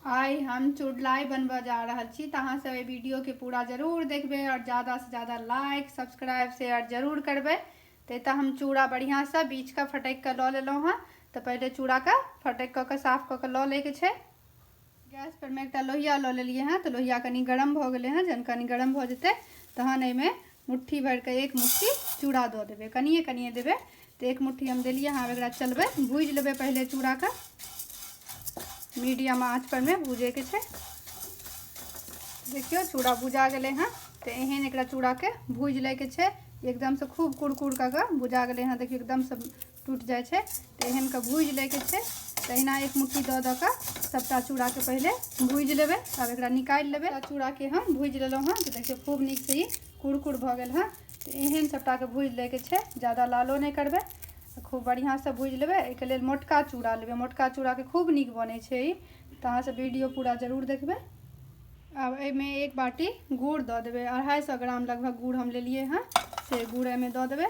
आइ हम चुड़लाई बनबऽ जा रहल छी तऽ अहाँ सब एहि वीडियोके पूरा जरूर देखबै आओर ज्यादासँ ज्यादा लाइक सब्सक्राइब शेयर जरूर करबै तऽ एतऽ हम चूड़ा बढ़िआँसँ बीछ कऽ फटकि कऽ लऽ लेलहुँ हँ तऽ पहिले चूड़ाके फटकि कऽ कऽ साफ कऽ कऽ लऽ लैके छै गैस पर में एक लोहिया लो लिये हैं तो लोहिया कनी गरम भ गए हैं जन कनी गरम भ जते तहन एहिमे मुट्ठी भर के एक मुट्ठी चूड़ा दऽ देवे कनिए कनिए देवे तो एक मुट्ठी हम दिलिए हाँ एक चलबे भूज लेबे पहले चूड़ा का मीडियम आँच पर में भूजे के देखियो चूड़ा भुजा गए हैं तो एहन एक चूड़ा के भूज ले के एकदम से खूब कुड़कुड़ कऽ के भुजा गए हैं देखियो एकदम से टूटि जाइ छै तऽ एहनके भूजि लैके छै तहिना एक मुट्ठी दऽ दऽ कऽ सभटा चूड़ाके पहिले भूजि लेबै तब एकरा निकालि लेबै चूड़ाके हम भूजि लेलहुँ हँ तऽ देखियौ खूब नीकसँ ई कुरकुर भऽ गेल हँ तऽ एहन सभटाके भूजि लैके छै जादा लालो नहि करबै खूब बढ़िआँसँ भूजि लेबै एहिके लेल मोटका चूड़ा लेबै मोटका चूड़ाके खूब नीक बनै छै ई तऽ अहाँसभ वीडियो पूरा जरूर देखबै आब एहिमे एक बाटी गुड़ दऽ देबै अढ़ाइ सए ग्राम लगभग गुड़ हम लेलियै हँ से गुड़ एहिमे दऽ देबै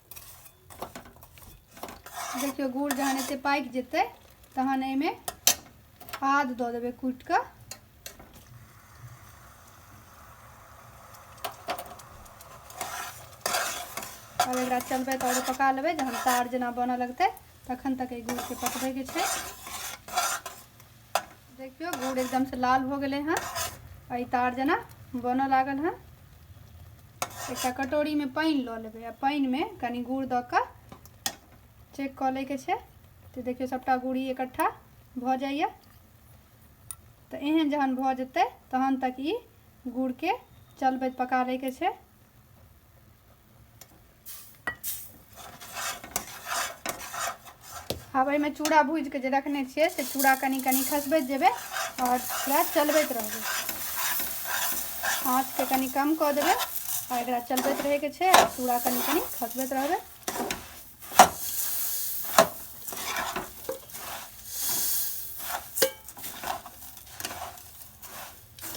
देखियौ गुड़ जहन एते पाकि जेतै तहन एहिमे आद दऽ देबै कुटि कऽ आब एकरा चलबै तऽ आओर पका लेबै जहन तार जेना बनऽ लगतै तखन तक एहि गुड़के पकबैके छै देखियौ गुड़ एकदम से लाल हो गए हैं अ तार जना बन लागल है एक कटोरी में पानि लऽ लेबै आ पानिमे कनि गुड़ दऽ कऽ चेक कऽ लैके छै तऽ देखियौ सभटा गुड़ी इकट्ठा भऽ जाइए तऽ एहन जहन भऽ जेतै तहन तक ई गुड़के चलबैत पका लैके छै आब एहिमे चूड़ा भूजि कऽ जे रखने छियै से चूड़ा कनि कनि खसबैत जेबै आओर एकरा चलबैत रहबै आँचके कनि कम कऽ देबै आओर एकरा चलबैत रहैके छै आओर चूड़ा कनि कनि खसबैत रहबै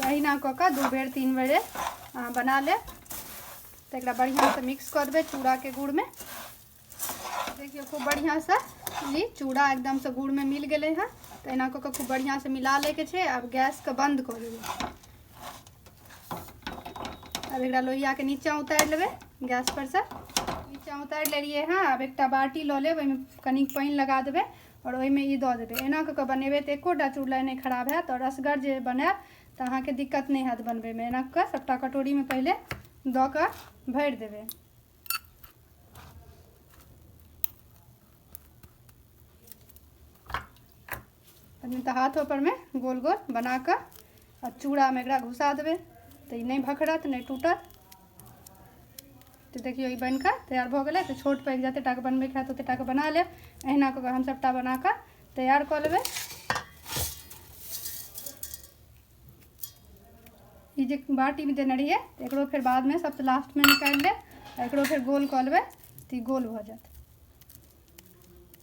अहिना कऽ कऽ दू बेर तीन बेरे बना लेब तऽ एकरा बढ़िआँसँ मिक्स कऽ देबै चूड़ाके गुड़मे देखियौ खूब बढ़िआँसँ ई चूड़ा एकदमसँ गुड़मे मिल गेलै हँ तऽ एना कऽ कऽ खूब बढ़िआँसँ मिला लैके छै आब गैसके बन्द कऽ देबै आब एकरा लोहियाके नीचाँ उतारि लेबै गैसपरसँ नीचाँ उतारि लेलियै हँ आब एकटा बाटी लऽ लेब ओहिमे कनि पानि लगा देबै आओर ओहिमे ई दऽ देबै एना कऽ कऽ बनेबै तऽ एकोटा चूड़ा नहि खराब हैत आओर असगर जे बनायब तऽ अहाँके दिक्कत नहि हैत बनबैमे एना कऽ सभटा कटोरीमे पहिले दऽ कऽ भरि देबै तखन तऽ हाथो परमे गोल गोल बना कऽ आ चूड़ामे एकरा घुसा देबै तऽ ई नहि भखरत नहि टूटत तऽ देखियौ ई बनि कऽ तैयार भऽ गेलै तऽ छोट पैघ जतेक टाके बनबैके हैत ओतेक टाके बना लेब अहिना कऽ कऽ हम सभटा बना कऽ तैयार कऽ लेबै ई जे बाटीमे देने रहियै एकरो फेर बादमे सबसँ लास्टमे निकालि लेब एकरो फेर गोल कऽ लेबै तऽ ई गोल भऽ जायत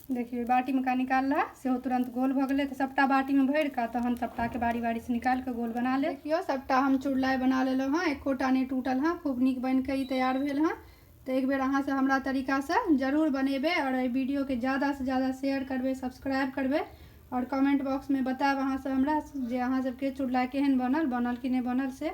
देखियौ बाटीमे का निकाल रहा सेहो तुरन्त गोल भऽ गेलै तऽ सभटा बाटीमे भरि कऽ तहन सभटाके बारी बारीसँ निकालि कऽ गोल बना लेब देखियौ सभटा हम चुड़लाइ बना लेलहुँ हँ एकोटा नहि टूटल हँ खूब नीक बनि कऽ ई तैयार भेल हँ तऽ एक बेर अहाँ सब हमरा तरीका से जरूर बनेबै और एहि वीडियो के ज्यादा से ज्यादा शेयर करबै सब्सक्राइब करबै और कमेंट बॉक्स में बताएब अहाँ सब हमरा जे अहाँ सबके चुड़लाइ केहन बनल बनल कि नहि बनल से